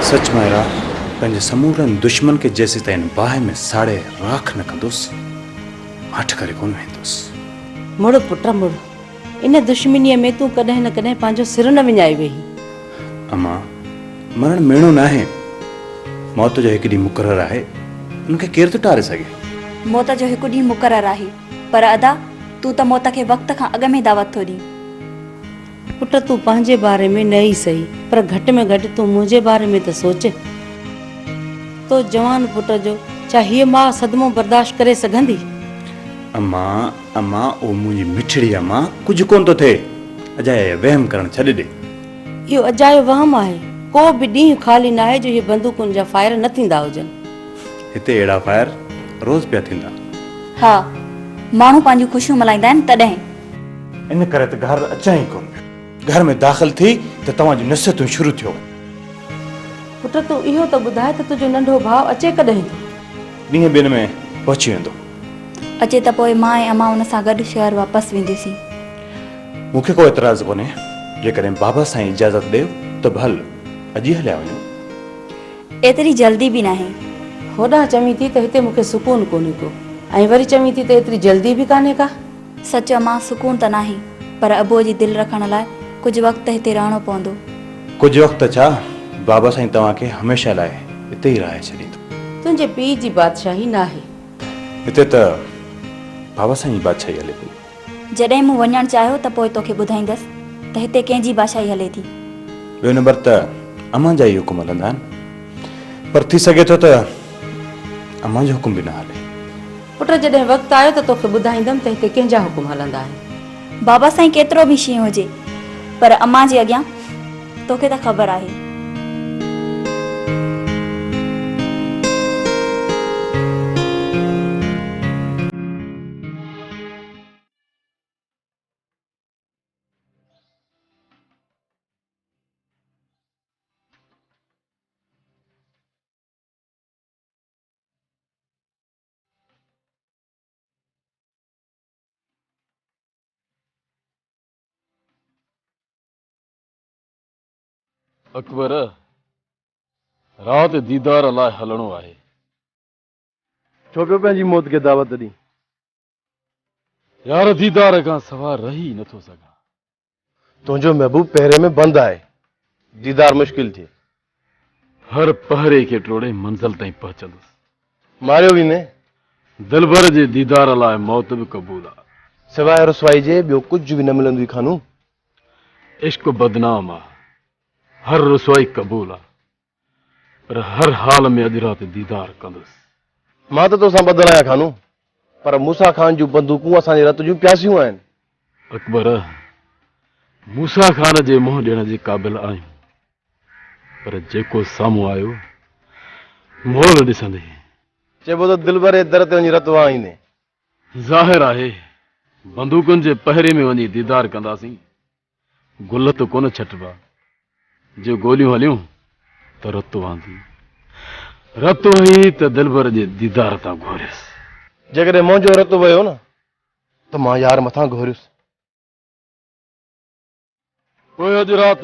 سچ مائرا پنهنجي سمورن دشمن کي جيسيتائين باهه ۾ ساڙي راک نه ڪندس ماٺ ڪري ڪون ويندس مڙ پٽ مڙ ان دشمنيء ۾ تون ڪڏهن نه ڪڏهن پنهنجو سر نه وڃائي ويهي اما مرڻ ميڻو نه آهي موت جو هڪ ڏينهن مقرر آهي ان کي ڪير ٿو ٽاري سگهي موت جو هڪ ڏينهن مقرر آهي پر ادا، تون ته موت کي وقت کان اڳ ۾ دعوت ٿو ڏين. پٽ تون پنهنجي باري ۾ نه ئي سهي، پر گهٽ ۾ گهٽ تون منهنجي باري ۾ ته سوچ. تو جوان پٽ جو ڇا هيء ماء صدمو برداشت ڪري سگهندي؟ امان، امان او منهنجي مٺڙي امان، ڪجهه ڪونه ٿو ٿئي. اجايا اهي وهم ڪرڻ ڇڏي ڏي. اهو اجايو وهم آهي. ڪو به ڏينهن خالي ناهي جو هي بندوقن جا فائر نه ٿيندا هجن. هتي اهڙا فائر روز پيا ٿيندا. ها ماڻهو پنهنجون خوشيون ملهائيندا آهن تڏهن. ان ڪري ته گهر اچان ئي ڪونه پيو. گهر ۾ داخل ٿي ته توهان جون نصيحتون شروع ٿيو وڃن. پٽ تون اهو ته ٻڌاء ته تنهنجو ننڍو ڀاء اچي ڪڏهن ٿو. ڏينهن ٻن ۾ پهچي ويندو. اچي ته پوء مان ۽ امان ان سان گڏ شهر واپس وينديسين. مون کي ڪو اعتراض ڪونهي. جيڪڏهن بابا سائين اجازت ڏئي ته به هل اڄ ئي هليا وڃون. ايتري جلدي به ناهي. هوڏانهن چوين ٿي ته هتي مون کي سڪون ڪونهي ڪو ۽ وري چوين ٿي ته ايتري جلدي به ڪانهي ڪا. سچ امان سڪون ته ناهي پر ابو جي دل رکڻ لاء ڪجهه وقت ته هتي رهڻو پوندو. ڪجهه وقت ته ڇا بابا سائين توهان کي هميشه لاء هتي ئي رهائي ڇڏيندو. تنهنجي پيء جي بادشاهي ناهي. هتي ته بابا سائين جي بادشاهي هلي پئي. جڏهن مون وڃڻ چاهيو ته پوء توکي ٻڌائيندس ته هتي ڪنهن جي بادشاهي هلي ٿي. ٻيو نمبر ته امان جا ئي حڪم هلندا آهن. پر ٿي سگهي ٿو ته امان جو حڪم به نه هلي. پٽ جڏهن وقت آيو ته توکي ٻڌائيندم ته هتي ڪنهن جا حڪم هلندا آهن. بابا سائين ڪيترو به شينهن هجي پر امان جي اڳيان توکي ته خبر آهي. اڪبر! رات ديدار لاء هلڻو آهي. ڇو پيو پنهنجي موت کي دعوت ڏين. يار ديدار کان سوا رهي نٿو سگهان. تنهنجو محبوب پهري ۾ بند آهي ديدار مشڪل ٿئي. هر پهري کي ٽوڙي منزل تائين پهچندس. ماريو ويندين. دلبر جي ديدار لاء موت به قبول آ. سواء رسوائي جي ٻيو ڪجهه به نه ملندوئي خانو. عشق بدنام آ هر رسوائي قبول آ. پر هر حال ۾ اڄ رات ديدار ڪندس. مان ته توسان ٻڌل آهيان خانو، پر موسيٰ خان جون بندوقون اسان جي رت جون پياسيون آهن. اڪبر، موسيٰ خان جي منهن ڏيڻ جي قابل آهيون، پر جيڪو سامهون آيو، مول ڏسندين. چئبو ته دلبر جي در تي وڃي رت وهائيندين. ظاهر آهي، بندوقن جي پهري ۾ وڃي ديدار ڪنداسين. گل ته ڪونه ڇٽبا، جي گوليون هليون ته رت وهندي. رت وهي ته دلبر جي ديدار تان گهوريس. جيڪڏهن منهنجو رت وهيو نه ته مان يار مٿان گهوريس. پوء اڄ رات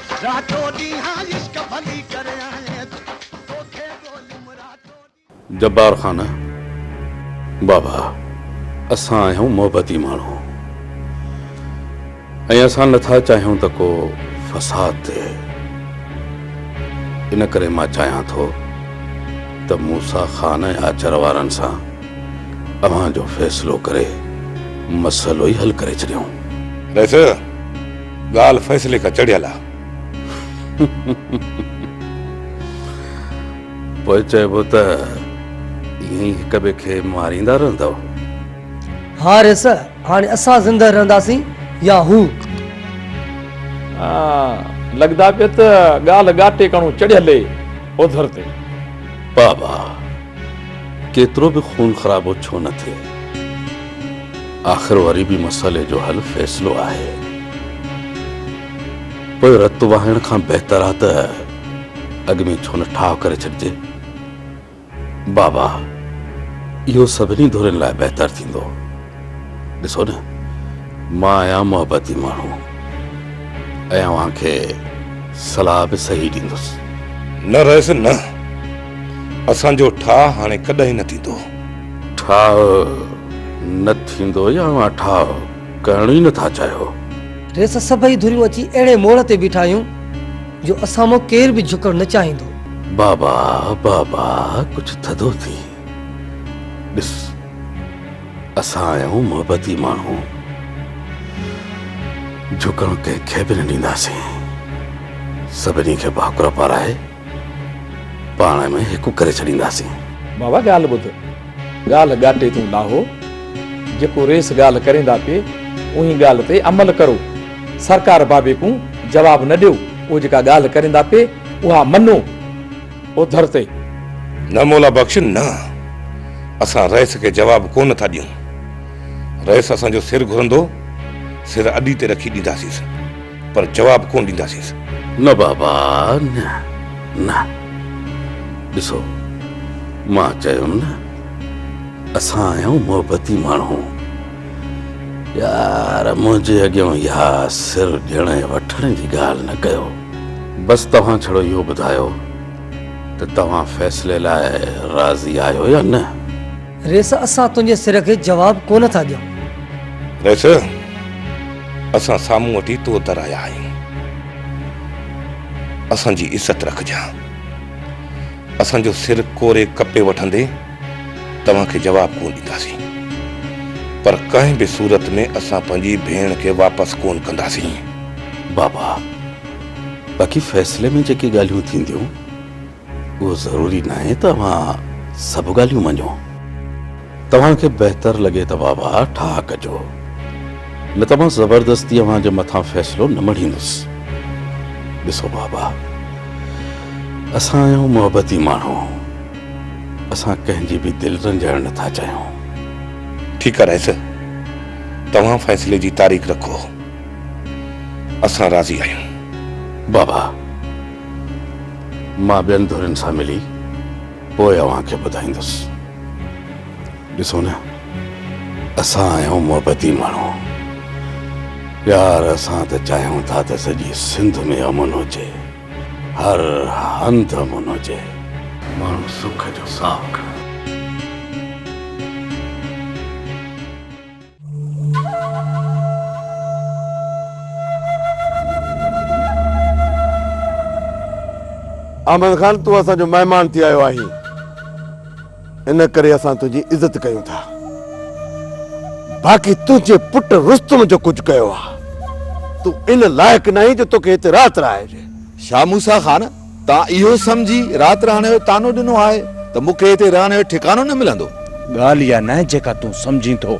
جبار خان، بابا اسان آهيون محبتي ماڻهو ۽ اسان نه ٿا چاهيون ته ڪو فساد ٿئي ان ڪري مان چاهيان ٿو ته موسيٰ خان ۽ آچر وارن سان اوهان جو فيصلو ڪري مسئلو ئي حل ڪري ڇڏيون. ڳالهه فيصلي کان چڙهيل آ. پوء چئبو ته ائين ئي هڪ ٻئي کي ماريندا رهندؤ؟ حارث، هاڻي اسان زندهه رهنداسين يا هو؟ لڳدا پيا ته ڳالهه ڳاٽي ڪڻو چڙهيل اي اوڌر تي. بابا! ڪيترو به خون خرابو ڇو نه ٿئي آخر وري به مسئلي جو حل فيصلو آهي پوء رت وهائڻ کان بهتر آهي ته اڳ ۾ ڇو نه ٺاهه ڪري ڇڏجي بابا اهو سڀني ڌرين لاء بهتر ٿيندو ڏسو نه مان آهيان محبتي ماڻهو ۽ اوهان کي صلاح به صحيح ڏيندس. نه رئيس نه. اسان جو ٺاهه هاڻي ڪڏهن نه ٿيندو. ٺاهه نه ٿيندو يا اوهان ٺاهه ڪرڻ ئي نه ٿا چاهيو؟ رئيس سڀئي ڌريون اچي اهڙي موڙ تي بيٺايون جو اسان مان ڪير به جهڪڻ نه چاهيندو. بابا بابا ڪجهه ٿڌو ٿي. ڏس اسان آهيون محبتي ماڻهو، جهڪڻ ڪنهن کي به نه ڏينداسين، سڀني کي ڀاڪر پارائي پاڻ ۾ هڪ ڪري ڇڏينداسين. بابا ڳالهه ٻڌ، ڳالهه ڳاٽي تون لاهو، جيڪو رئيس ڳالهه ڪريندا پي اوهين ڳالهه تي عمل ڪرو، سرڪار بابي ڪون جواب نه ڏيو، اهو جيڪا ڳالهه ڪريندا پي اها مڃو، اوڌر تي، نه مولا بخش نه، اسان رئيس کي جواب ڪو نه ٿا ڏيون. رئيس اسان جو سر گهرندو، سر اڏي تي رکي ڏينداسينس، پر جواب ڪونه ڏينداسينس. نه بابا نه، نه. ڏسو، مان چيم نه، اسان آهيون محبتي ماڻهو. يار، منهنجي اڳيان اها سر ڏيڻ ۽ وٺڻ جي ڳالهه نه ڪيو. بس توهان ڇڙو اهو ٻڌايو ته توهان فيصلي لاء راضي آهيو يا نه؟ ريس اسان تنهنجي سر کي جواب ڪونه ٿا ڏيون. ريس اسان سامهون وٽ ئي تو در آيا آهيون. اسان جي عزت رکجان. اسان جو سر ڪوري ڪپي وٺندي. توهان کي جواب ڪونه ڏينداسين پر ڪنهن به صورت ۾ اسان پنهنجي ڀيڻ کي واپس ڪونه ڪنداسين. بابا، باقي فيصلي ۾ جيڪي ڳالهيون ٿينديون اهو ضروري ناهي ته اوهان سڀ ڳالهيون مڃو. توهان کي بهتر لڳي ته بابا ٺاهه ڪجو نه ته مان زبردستي اوهان جي مٿان فيصلو نه مڙهيندس. ڏسو بابا، اسان آهيون محبتي ماڻهو. اسان ڪنهن جي به دل رنجائڻ نه ٿا چاهيون. ٺيڪ آ رئيس، توهان فيصلي جي تاريخ رکو، اسان راضي آهيون. بابا، مان ٻين ڌرين سان ملي پوء اوهان کي ٻڌائيندس. ڏسو نه، اسان آهيون محبتي ماڻهو. پيار، اسان ته چاهيون ٿا ته سڄي سنڌ ۾ امن هجي. هر هنڌ امن هجي. ماڻهو سک جو ساهه کڻن. احمد خان تون اسان جو مهمان ٿي آيو آهين. ان ڪري اسان تنهنجي عزت ڪيون ٿا. باقي تنهنجي پٽ رستم جو ڪجهه ڪيو آهي، تون ان لائق ناهين جو توکي هتي رات رهائجي. شاهه موسيٰ خان، توهان اهو سمجهي رات رهڻ جو طعنو ڏنو آهي ته مون کي هتي رهڻ جو ٺڪانو نه ملندو. ڳالهه اها ناهي جيڪا تون سمجهين ٿو.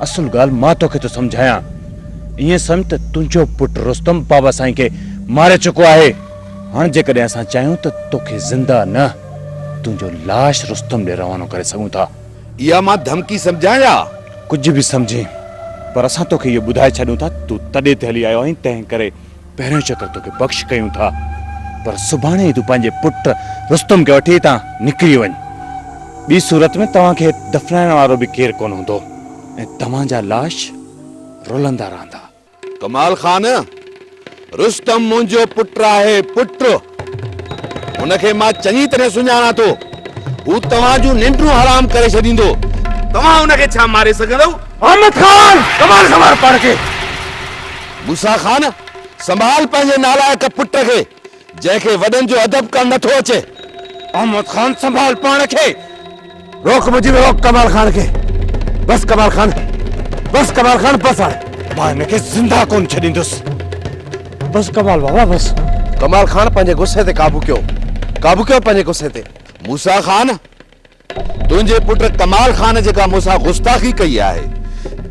اصل ڳالهه مان توکي ٿو سمجهايان. ائين سمجهه ته تنهنجو پٽ رستم بابا سائين کي ماري چڪو آهي. هاڻ جيڪڏهن اسان چاهيون ته توکي زنده نه، تنهنجو لاش رستم ڏي روانو ڪري سگهون ٿا. اها مان ڌمڪي سمجهان يا؟ ڪجهه به سمجهين، پر اسان توکي اهو ٻڌائي ڇڏيون ٿا ته تون تڏي تي هلي آيو آهين، تنهنڪري پهريون چڪر توکي بخش ڪيون ٿا، پر سڀاڻي ئي تون پنهنجي پٽ رستم کي وٺي هتان نڪري وڃ. ٻي صورت ۾ توهان کي دفنائڻ وارو به ڪير ڪونه هوندو ۽ توهان جا لاش رلندا رهندا. ڪمال خان، رستم منهنجو پٽ آهي، پٽ. هن کي مان چڱي طرح سڃاڻان ٿو. هو توهان جون ننڊون حرام ڪري ڇڏيندو. توهان هن کي ڇا ماري سگهندؤ؟ محمد خان، ڪمال سنڀال پاڻ کي. موسيٰ خان، سنڀال پنهنجي نالائق پٽ کي. جنهن کي وڏن جو ادب ڪرڻ نه ٿو اچي. احمد خان سنڀال پاڻ کي. روڪ مجيب روڪ ڪمال خان کي. بس ڪمال خان بس ڪمال خان بس هاڻي. مان هن کي زنده ڪونه ڇڏيندس. بس ڪمال بابا بس. ڪمال خان پنهنجي غصي تي قابو ڪيو قابو ڪيو پنهنجي غصي تي. موسيٰ خان تنهنجي پٽ ڪمال خان جيڪا مون سان گستاخي ڪئي آهي،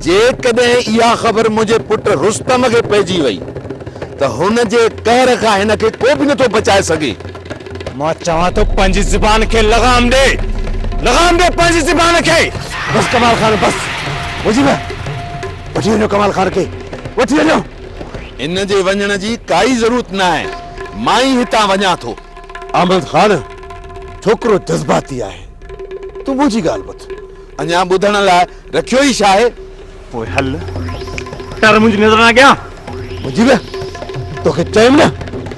جيڪڏهن اها خبر منهنجي پٽ رستم کي پئجي وئي ته هن جي قهر کان هن کي ڪو به نٿو بچائي سگهي. مان چوان ٿو پنهنجي زبان کي لغام ڏي، لغام ڏي پنهنجي زبان کي. بس ڪمال خان بس. مجيب، وٺي وڃو ڪمال خان کي، وٺي وڃو. هن جي وڃڻ جي ڪائي ضرورت ناهي، مان ئي هتان وڃان ٿو. احمد خان ڇوڪرو جذباتي آهي تون منهنجي ڳالهه ٻڌ اڃا ٻڌڻ لاء رکيو ئي ڇا آهي پوء هل ٽر منهنجي نظرن اڳيان منهنجي به توکي چيم نه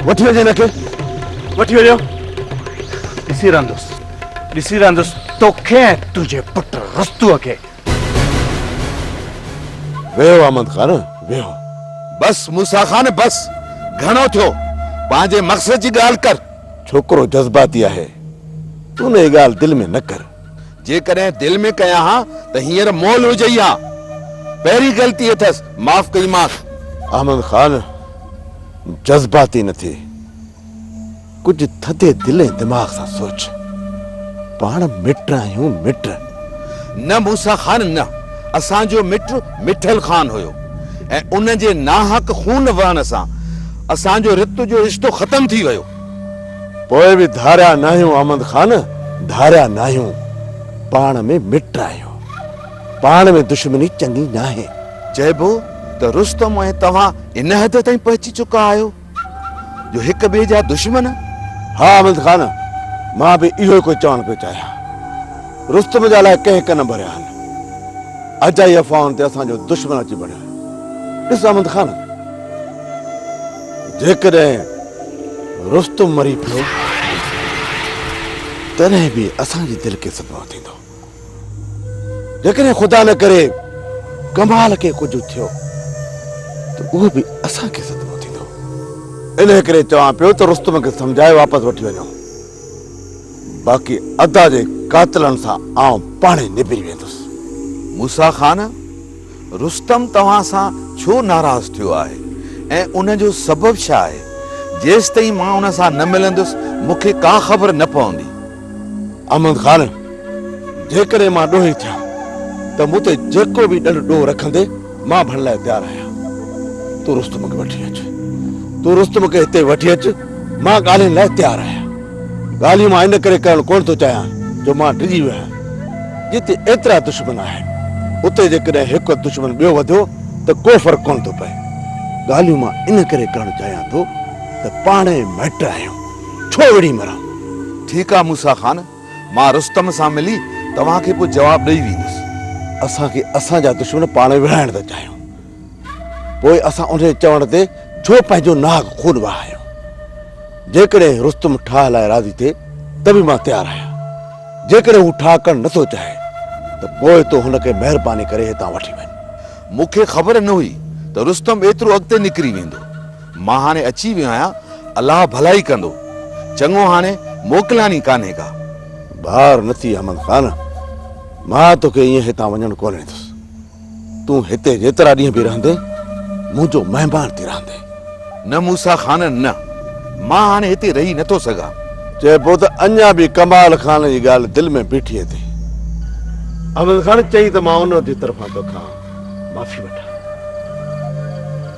وٺي وڃي هن کي وٺي وڃو ڏسي رهندس ڏسي رهندس توکي ۽ تنهنجي پٽ رستوء کي ويهو احمد خان ويهو. بس موسيٰ خان بس گهڻو ٿيو پنهنجي مقصد جي ڳالهه ڪر. ڇوڪرو جذباتي آهي تون هي ڳالهه دل ۾ نه ڪر. جيڪڏهن دل ۾ ڪيان ها ته هينئر مئل هجئي ها پهرين غلطي اٿس معاف ڪئي مانس. احمد خان جذباتي نه ٿي. ڪجهه ٿڌي دل ۽ دماغ سان سوچ. پاڻ مٽ آهيون، مٽ. نه موسيٰ خان نه. اسان جو مٽ مٺل خان هيو ۽ ان جي ناحق خون وهڻ سان اسان جو رت جو رشتو ختم ٿي ويو. پوء به ڌاريا ناهيون احمد خان، ڌاريا ناهيون. پاڻ ۾ مٽ آهيون. پاڻ ۾ دشمني چڱي ناهي. چئبو ته رستم ۽ توهان ان حد تائين پهچي چڪا آهيو؟ جو هڪ ٻئي جا دشمن؟ ها حامد خان، مان به اهو ئي ڪجهه چوڻ پيو چاهيان. رستم جا الاء ڪنهن ڪن ڀريا آهن. اجائي افواهن تي اسان جو دشمن اچي بڻيو آهي. ڏس حامد خان، جيڪڏهن رستم مري پيو، تڏهن به اسان جي دل کي صدمو ٿيندو. جيڪڏهن خدا نه ڪري ڪمال کي ڪجهه ٿيو ته اهو به اسان کي صدمو ٿيندو. انهيء ڪري چوان پيو ته رستم کي سمجهائي واپس وٺي وڃو. باقي ادا جي قاتلن سان آئون پاڻهي نبري ويندس. موسيٰ خان! رستم توهان سان ڇو ناراض ٿيو آهي ۽ ان جو سبب ڇا آهي؟ جيستائين مان ان سان نه ملندس، مون کي ڪا خبر نه پوندي. احمد خان، جيڪڏهن مان ڏوهي ٿيان ته مون تي جيڪو به ڏنڊ ڏوهه رکندي، مان ڀرڻ لاء تيار آهيان. تون رستم کي وٺي اچ. تون رستم کي هتي وٺي اچ، مان ڳالهين لاء تيار آهيان. ڳالهيون مان ان ڪري ڪرڻ ڪونه ٿو چاهيان جو مان ڊڄي ويو آهيان. جتي ايترا دشمن آهن، اتي جيڪڏهن هڪ دشمن ٻيو وڌيو ته ڪو فرق ڪونه ٿو پئي. ڳالهيون مان ان ڪري ڪرڻ چاهيان ٿو ته پاڻ ئي مائٽ آهيون، ڇو وڙهي مران؟ ٺيڪ آهي موسيٰ خان، مان رستم سان ملي توهان کي ڪو جواب ڏئي ويندس. اسان کي اسان جا دشمن پاڻ ئي وڙهائڻ ٿا چاهيون. پوء اسان انهيء چوڻ تي ڇو پنهنجو ناحق خون وهايو؟ جيڪڏهن رستم ٺاهه لاء راضي ٿئي ته به مان تيار آهيان. جيڪڏهن هو ٺاهه ڪرڻ نه ٿو چاهي ته پوء تو هن کي مهرباني ڪري هتان وٺي وڃ. مون کي خبر نه هئي ته رستم ايترو اڳتي نڪري ويندو. مان هاڻي اچي ويو آهيان، الله ڀلائي ڪندو. چڱو هاڻي موڪلياڻي ڪانهي ڪا. بار نه ٿي احمد خان، مان توکي ائين هتان وڃڻ ڪونه ڏيندس. تون هتي جيترا ڏينهن به رهندين، منهنجو مهمان ٿي رهندين. نه موسيٰ خان، نه. مان هاڻي هتي رهي نه ٿو سگهان. چئبو ته اڃا به ڪمال خان جي ڳالهه دل ۾ بيٺي اٿئي. احمد خان چئي ته مان ان جي طرفان توکان معافي وٺان.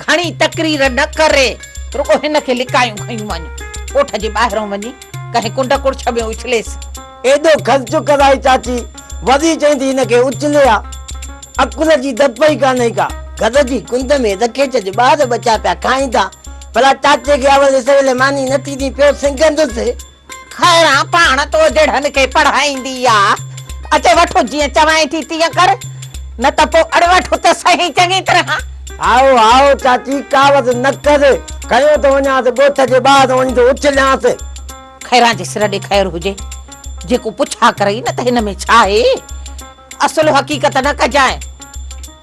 گهڻي تقرير نه ڪري رڳو هن کي لڪايون کنيون وڃ ڳوٺ جي ٻاهرون وڃي ڪنهن ڪنڊ ڪڙڇ ۾ اڇليس. ايڏو کس چڪس آهي چاچي وزير چئين ٿي هن کي اڇلي ها عقل جي ڌپ ئي ڪانهي ڪا. گهر جي ڪنڊ ۾ دکيچ جي ٻار ٻچا پيا کائين ٿا ڀلا چاچي کي اول سويل ماني نه ٿيندي پيو سنگهندس. خيران پاڻ تو جهڙن کي پڙهائيندي آ، اچي وٺ جيئن چوائين ٿي تيئن ڪر، نه ته پوء اڙ وٺ ته سهي چڱي طرح. هائو هائو چاچي ڪاوڙ نه ڪر، کنيو ٿو وڃانس ڳوٺ جي ٻاهر وڃي ٿو اڇليانس. خيران جي سر ڏي خير هجي، جيڪو پڇا ڪرئي نه ته هن ۾ ڇا آهي، اصل حقيقت نه ڪجانء.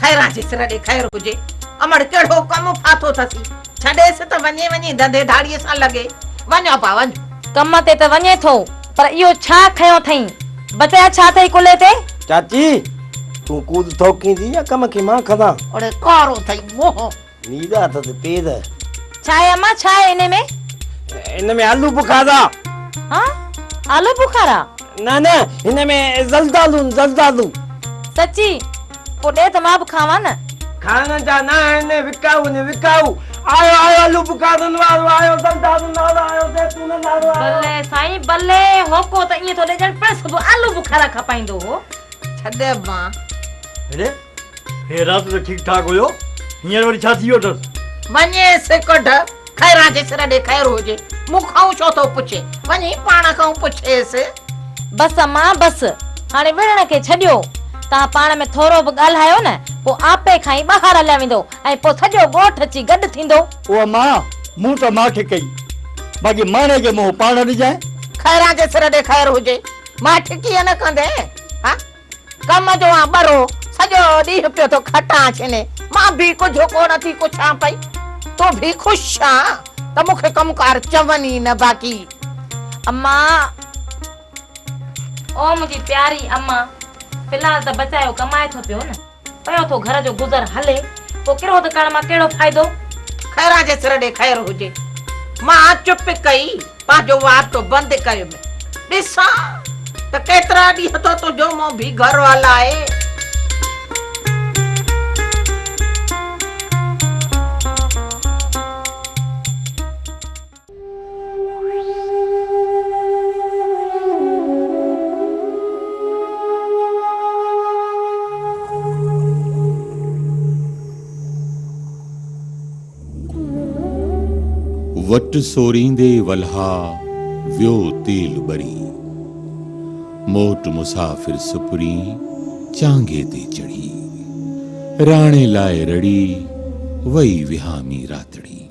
خيران جي سر ڏي خير هجي. امڙ ڪهڙو ڪم ڦاٿو ٿسي. ڇڏيس ته وڃي وڃي ڌنڌي ڌاڙي سان لڳي. وڃ ابا وڃ. ڪم تي ته وڃي ٿو پر اهو ڇا کنيو ٿئين. بچايا ڇا اٿئي ڪلهي تي. چاچي تون ڪوڌ ٿوڪيندي يا ڪم کي مان کندا. اڙي ڪارو ٿئي منهن. نيد آتت پيد. ڇا آهي امان ڇا آهي انهي ۾. ان ۾ آلو بخارا. ها آلو بخارا. نه نه هن ۾ زلدالون زلدالو. سچي پو ڏي ته مان به کاوان نه. کائڻ جا نه آهن وڪائو ني وڪائو. آيو آيو آلو بخارن وارو آيو زلدالن وارو آيو زيتونن وارو آيو. بلي سائين بلي هوڪو ته ائين ٿو ڏي ڄڻ پڻس به آلو بخارا کپائيندو هو. ڇڏ ابا. هي رات ته ٺيڪ ٺاڪ هيو هينئر وري ڇا ٿي ويو اٿس. وڃيس ڪڍ خيران جي سر ڏي خير هجي مون کانئون ڇو ٿو پڇي وڃي پاڻ کانئون پڇيس. بس امان بس هاڻي وڙهڻ کي ڇڏيو توهان پاڻ ۾ ٿورو به ڳالهايو نه پوء آپي کان ئي ٻاهر هليا ويندو ۽ پوء سڄو ڳوٺ اچي گڏ ٿيندو. او امان مون ته ماٺ ڪئي باقي ماڻهي کي منهن پاڻ ڏجانء. خيران جي سر ڏي خير هجي ماٺ ڪيئن نه ڪندين ها. ڪم جو آن ٻرو سڄو ڏينهن پيو ٿو کٽان چني، مان به ڪجهه ڪو نه ٿي ڪڇان پئي. تون به خوش آن ته مون کي ڪم ڪار چون ئي نه باقي امان. او منهنجي پياري امان، في الحال ته بچايو ڪمائي ٿو پيو نه. پيو ٿو گهر جو گذر هلي. پوء ڪرهو ته ڪرڻ مان ڪهڙو فائدو. خيران جي سر ڏي خير هجي. مان چپ ڪئي پنهنجو وارتو بند ڪيم. ڏسان ته ڪيترا ڏينهن ٿو تنهنجو منهن ڀي گهر هلائي. وٽ سوريندي ولها ويو تيل ٻري. موٽ مسافر سپرين چانگي تي چڙهي. راڻي لاء رڙي وئي وهامي راتڙي.